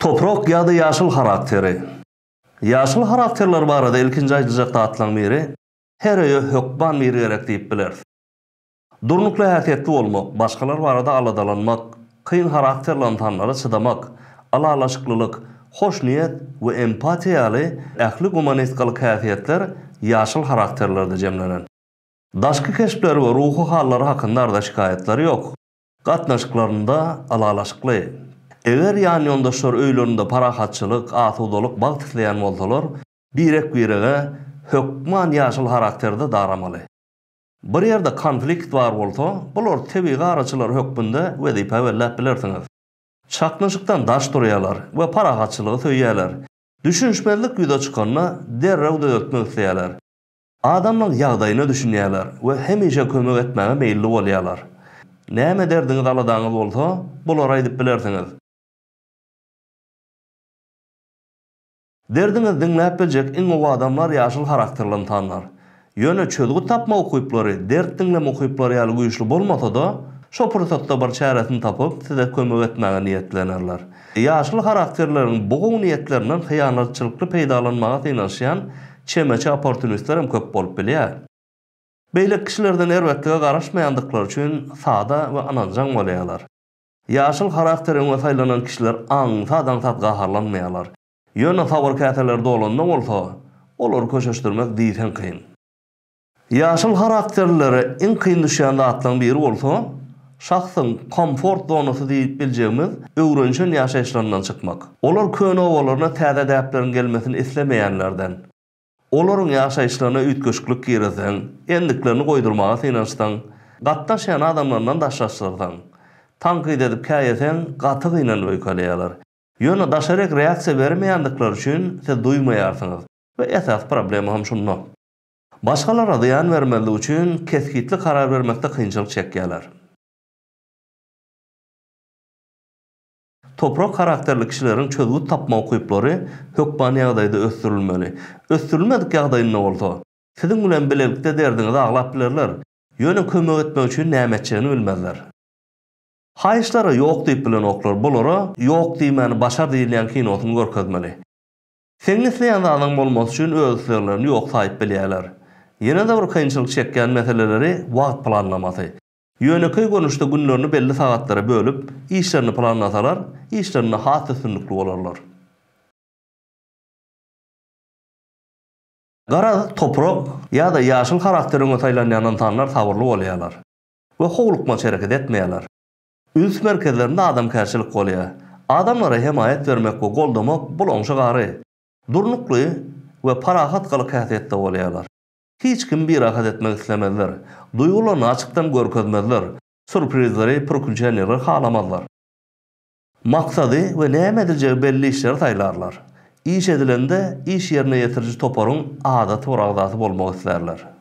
Toprak ýa-da ýaşyl harakteri. Ýaşyl harakterler barada ilkinji aýdyljak zatlaryň biri, her öýe hökman biri gerek diýip bileris. Durnukly häsiýetli bolmak, başgalar barada aladalanmak, kyn harakterli ynsanlara çydamak, ylalaşyklylyk, hoşniýet we empatiýa ýaly ähli gumanistgalyk häsiýetler ýaşyl harakterlerde jemlenen. Daşky keşpleri we ruhy hallary hakynda arza-şikaýatlary ýok. Gatnaşyklarynda ylalaşykly. Eger ýanýoldaşlar öýlerinde parahatçylyk, asudalyk, bagt isleýän bolsalar, birek-birege hökman ýaşyl harakterde daramaly. Bir ýerde konflikt bar bolsa, bular tebigy araçylar hökmünde wezipe belläp bilersiňiz. Çaknyşykdan daş durýarlar we parahatçylygy söýýärler. Düşünişmezlik ýüze çykanda, derrew düzeltmek isleýärler. Adamlaň ýagdaýyna düşünýärler we hemişe kömek etmäge meýilli bolýarlar. Näme derdiňiz-aladaňyz bolsa, bulara aýdyp bilersiňiz. Derdiňizi diňläp biljek iň gowy adamlar ýaşyl harakterli ynsanlar. Ýöne çözgüt tapma ukyplary dert diňleme ukyplary ýaly güýçli bolmasa-da, şo pursatda bir çäresini tapyp, size kömek etmäge niýetlenerler. Ýaşyl harakterleriň bu gowy niýetlerinden hyýanatçylykly peýdalanmaga synanyşýan çemeçi opportunistler hem köp bolup bilýär. Beýleki kişilerden erbetlige garaşmaýandyklary üçin sada we ynanjaň bolýarlar. Ýaşyl harakter öňe saýlanan kişiler aňsat-aňsat gaharlanmaýarlar. Ýöne sabyr käseleri dolanda bolsa, olary köşeşdirmek diýseň kyn. Ýaşyl harakterlilere iň kyn düşýän zatlaryň biri bolsa, şahsyň komfort zonasy diýip biljegimiz öwrenişen ýaşaýyşlaryndan çykmak. Olar köne obalaryna täze däpleriň gelmesini islemeýänlerden. Olaryň ýaşaýyşlaryna üýtgeşiklik girizseň, endiklerini goýdurmaga synanyşsaň, gatnaşýan adamlaryndan daşlaşdyrsaň, tankyt edip käýeseň, gaty gynanyp öýkeleýärler. Ýöne daşaryk reaksiýa bermeýändikleri üçin siz duýmaýarsyňyz we esasy problema hem şunda. Başgalara zyýan bermezlik üçin kesgitli karar bermekde kynçylyk çekýärler. Toprak harakterli kişileriň çözgüt tapma ukyplary hökman ýagdaýda ösdürilmeli. Ösdürilmedik ýagdaýynda bolsa, siziň bilen bilelikde derdiňizi aglap bilerler, ýöne kömek etmek üçin näme etjegini bilmezler. Haýyşlara ýok diýip bilenoklar, bulara Ýok diýmäni başar diýilýän kinosyny görkezmeli. Seniň isleýän zadyň bolmasy üçin öz isleglerini ýok saýyp bilýärler. Ýene-de bir kynçylyk çekýän meseleleri wagt planlamasy. Ýönekeý görnüşde günlerini belli sagatlara bölüp, işlerini planlasalar, işlerinde has üstünlikli bolarlar. Garaz, toprak ýa-da ýaşyl harakteri öňe saýlanýan ynsanlar sabyrly bolýarlar we howlukmaç hereket etmeýärler. Üns merkezlerinde adamkärçilik bolýar. Adamlara hemaýat bermek we goldamak bul oňşy gary, durnukly we parahat gylyk-häsiýetde bolýarlar. Hiç kimi birahat etmek islemezler. Duýgularyny açykdan görkezmezler. Surprizleri, pürkünçenleri halamazlar. Maksady we näme ediljegi belli işleri saýlarlar. Iş edilende iş ýerine ýetiriji toparyň adaty bir agzasy bolmak islärler.